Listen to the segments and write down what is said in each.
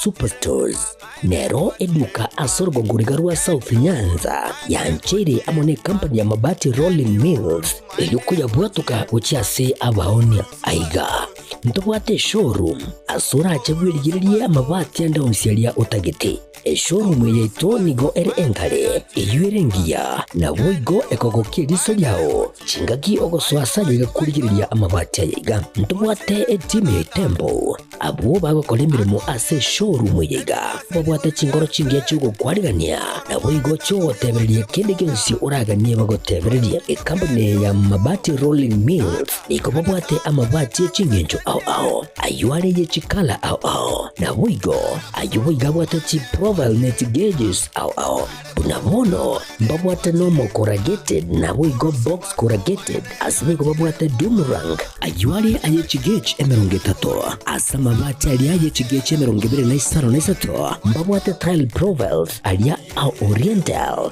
Superstores nero eduka ase orogogoriga rwa South Nyanza yancheire amo ne company ya Mabati Rolling Mills erio koyabwatuka gochia ase abaonia. Aiga ntobwate eshowroom ase orache bwerigererie amabati ande onsi aria otagete. Eshowroom yaito nigo ere enkare, eyio ere engiya, naboigo ekogokia eriso riao chingaki ogosoa ase ayio egakurigereria amabati aye iga. Ntobwate etimu ya etembo. Abwo bagokora emeremo ase eshowroom eye iga babwate chinkoro chingiya chi'ogokwarigania, naboigo chi'ogotebereria kende gionsi oraganie bagotebererie. Ekampuni eye ya Mabati Rolling Mills. Nigo babwate amabati e chingencho ao ao, ayio are ye chikala ao ao, naboigo ayio boigo abwate chiprofile ne chigauges ao ao. Buna bono mbabwate normal corrugated naboigo box corrugated, ase nigo babwate doom rank, ayio are aye chigauge emerongo etato. Ase amabati aria ye chigauge emerongo ebere na isano na isato mbabwate tile profiles aria ao oriental,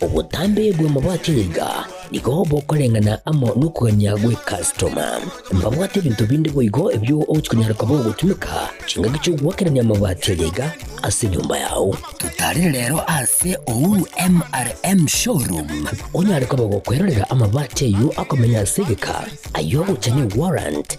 Obotambe bw'amabati gaiga nigo bokoreng'ana amo nokogania gwe customer. Mbabwate ebinto binde boigo ebio ogochi konyara koba ogotumeka chingaki chi'ogoakerania amabati aria iga ase enyomba yao. Totarire rero ase Uhuru MRM Showroom onyare koba gokwerorera amabati ayio akomenya ase egeka, ayio ogocha ne warrant,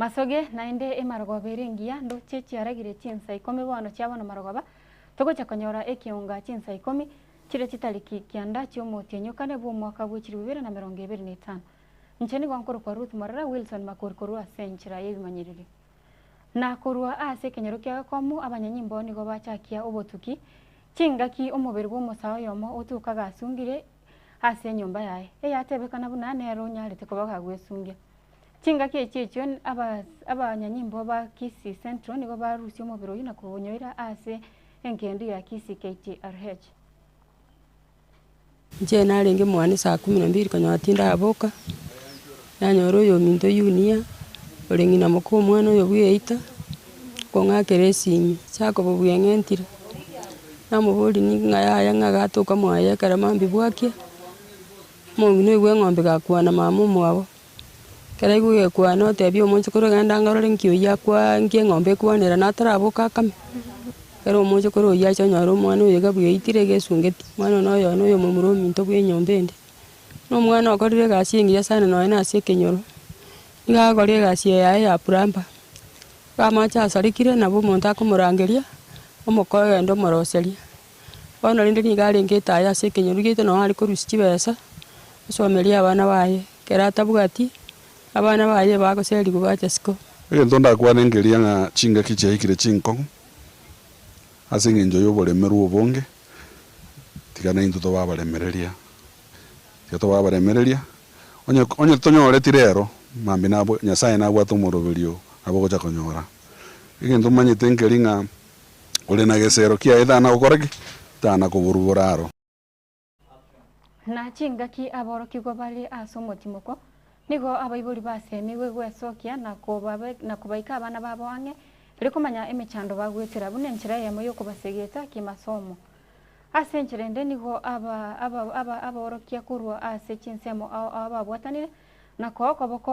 Masoge naende emarogoba ere engiya, ndoche chiaragire chinsa ikomi bono chiabo namarogoba, togocha konyora ekeonga chinsa ikomi, chiria chitariki kianda chi'omotianyokane bw'omwaka bwe chilifu ibere na merongo ebere na etano. Inche nigo nkorokwa Ruth Morera Wilson Makori korwa ase enchera y'ebimanyererio. Na korwa ase ekenyoro kia gakomo abanyanyimboo nigo bachakia obotuki, chingaki omobere bw'omosaa oyomo otoka gasungire ase enyomba yaye, eyatebekana buna nere onyarete koba gagwesungia. Chingaki echi echio n- abas- abanyanyimbo ba Kisii Central nigo barusia omobere oyio na koonyoira ase engendu ya Kisii KTRH. Inche narenge mwane saa kumi na mbiri konya tindaboka. Nanyora oyominto Yunia, ore ng'ina moka omwana oyo bw'eita, okong'akera esimi. Jakobo bweng'entire, namoboria, Nigo ng'a yaya ng'a gatoka mwaye ekero mambia bwakia, omong'ina oyo bw'eng'ombe gakwana mama omwabo. Ekero aigwe gekwana otebia omonchokoro genda ang'e orore nki oyio akwa nki eng'ombe ekwanera na ataraboke akame. Ekero omonchokoro oyio achia onyora omwana oyo iga bw'eitire iga esungeti, omwana oyo noyono oyomomura ominto bw'enyomba ende. Na omwana okorire egasi engiya sana nonya na ase ekenyoro, nigo agakora egasi eye yaye ya plumber, igo amache asarekire nabo omonto akomorangeria, omokoe ogenda omoroseria. Bono rende nigo arengete aye ase ekenyoro rigete nonya are korusia chibesa, osomeria abana baye, ekero atabwati, abana baye bagoserigwa bache siko. Egento ndakwane nkeria ng'a chingaki chiaikire chinkong'u, Ase engencho y'oboremerwa obonge, tiga naintwe tobe abaremereria. Tiga tobe abaremereria, onye onye titonyoreti rero, mambia nabwe Nyasae nabwate omoroberio nabo ogocha konyora. Egento manyete nkeri ng'a ore na gesero kiaye tana gokora ki? Tana koborugora aro. Na chingaki aborokigwa bare ase omotimoko, nigo abaibori basemigwe gwesokia na kobaika abana babo ang'e, erio komanya emechando bagwetera buna enchera eyemo y'okobasegeta kimasomo. Ase enchera ende nigo aborokia korwa ase chinsemo ao ababwatanire, na koa okoboko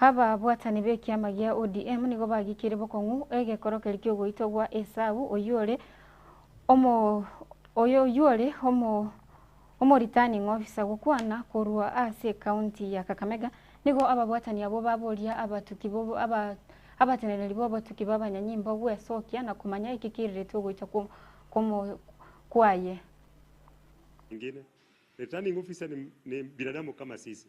Ababwatani b'ekiama gia ODM nigo bagikire bokong'u egekoro keria ki'ogoitwa gwa Esau oyio ore omo oyo oyio ore omo omo returning officer gokwana korwa ase ekaunti ya Kakamega. Nigo ababwatani abwo baboria abatuki bo aba abateneneri b'obotuki b'abanyanyimbo gwesokia na komanya eki kirirete ogoita kwo kwomo kwaye. Engine, returning officer ni ni binadamu kama sisi.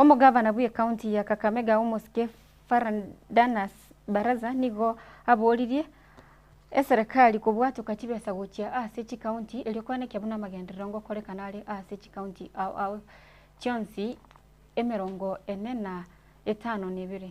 Omogavana bw'ekaunti ya Kakamega omosike Fernandanus Baraza nigo aboririe eserekari kobwatoka chibesa gochia ase chikaunti erio kwana ekiabo namagenderero ngokorekana are ase chikaunti ao ao chionsi emerongo ene na etano na ebere.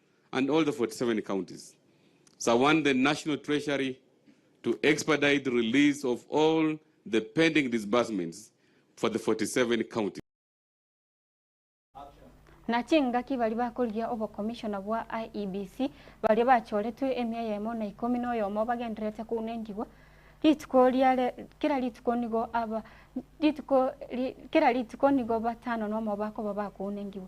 and all the 47 counties surround the National Treasury to expedite the release of all the pending disbursements for the 47 counties. Na chingaki baria bakorigia obokomishona bwa IEBC baria bachoretwe emia eyemo na ikomi na oyomo bagendererete kounentigwa rituko riare kera rituko nigo aba rituko ri, kera rituko nigo batano nomo bakoba bakounentigwa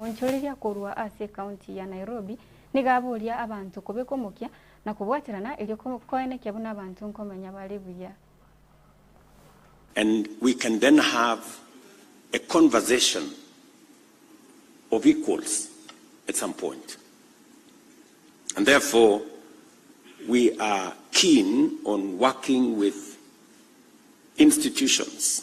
Omoonchoreria korwa ase ekaunti ya Nairobi nigo aboria abanto kobeka omokia na kobwaterana erio koenekia buna abanto nkomenya bare buya. And we can then have a conversation of equals at some point. And therefore we are keen on working with institutions.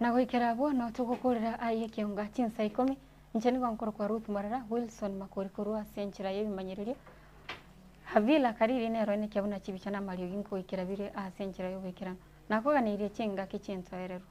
Na goikera abwo nao togokoorera aa y'ekeunga chinsa ikomi, inche nigo nkorokwa Ruth Morera Wilson Makori korwa ase enchera y'ebimanyererio, Havila Kariri nero ene kia buna chibicha na amariogi nkoikera bire aase enchera y'oboikeranu, nakoganeirie chingaki chinsoererwa.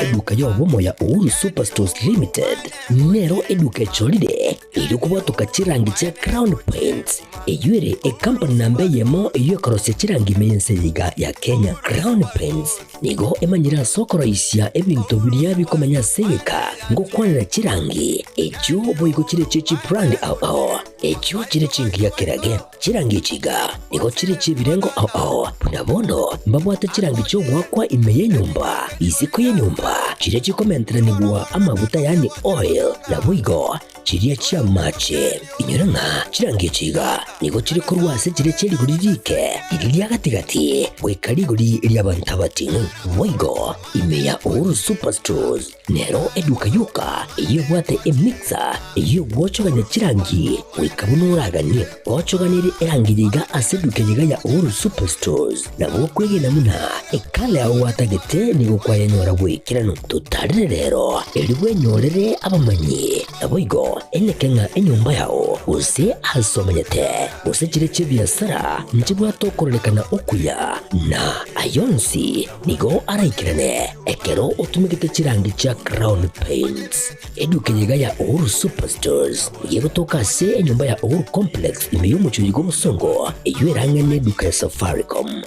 Eduka y'obomoya Uhuru Superstores Limited nero eduka echorire erio kobotoka chirangi chia Crown Paints eyio ere ecompany namba eyemo eyio ekorosia chirangi ime y'ense eye iga ya Kenya. Crown Paints nigo emanyire ase okoroisia ebinto biria bikomenya ase egeka ngokwanera chirangi echio boigo chire echio chibrand ao ao echio chire chingiya kerage. Chirangi chiga nigo chire chi'ebirengo ao ao, buna bono mbabwate chirangi chi'ogoakwa ime y'enyomba, isiko y'enyomba, chiria chikomenteranigwa amaguta yaani oil, naboigo chiria chi'amaache. Inyore ng'a chirangi chiga nigo chire korwa ase chiria chia rigori riike riria ria gati-gati goika rigori ri'abanto abating', boigo ime ya Uhuru Superstores. Nero eduka yoka eyebwate emixer eyio gwochogania chirangi goika buna oraganie gochoganire erangi yaiga ase eduka yaiga ya Uhuru Superstores. Na gokwegena buna ekala yao gwatagete nigo kwayanyora bw'ekerano. Totarire rero erio bwenyorere abamanyi, naboigo eneke ng'a enyomba yao, gose aase omanyete, gose chire chi'ebiasara nchibwate okororekana okuya, na ayio onsi Nigo araikerane ekero otumegete chirangi chia Crown Paints. Eduka eye iga ya Uhuru Superstores nigo egotoka ase enyomba ya Uhuru Complex ime y'omochie oyiga obosongo, eyio erang'aine n'eduka ya Safaricom.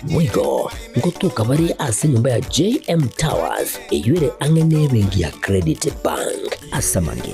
Boigo, ngotoka bare ase enyomba ya JM Towers, eyio ere ang'e n'ebenki ya Credit Bank. Ase amang'e,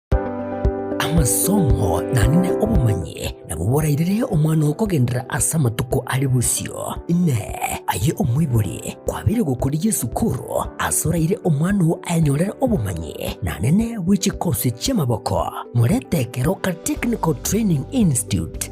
Amasomo nanene obomanyi nabo borairire omwana oo kogenderera ase amatuko are bosio. Inee! Aye omoibori, kwabeire gokoria esukuru ase oraire omwana oo aenyorere obomanyi nanene bwe chikosi chi'amaboko? Morete Keroka Technical Training Institute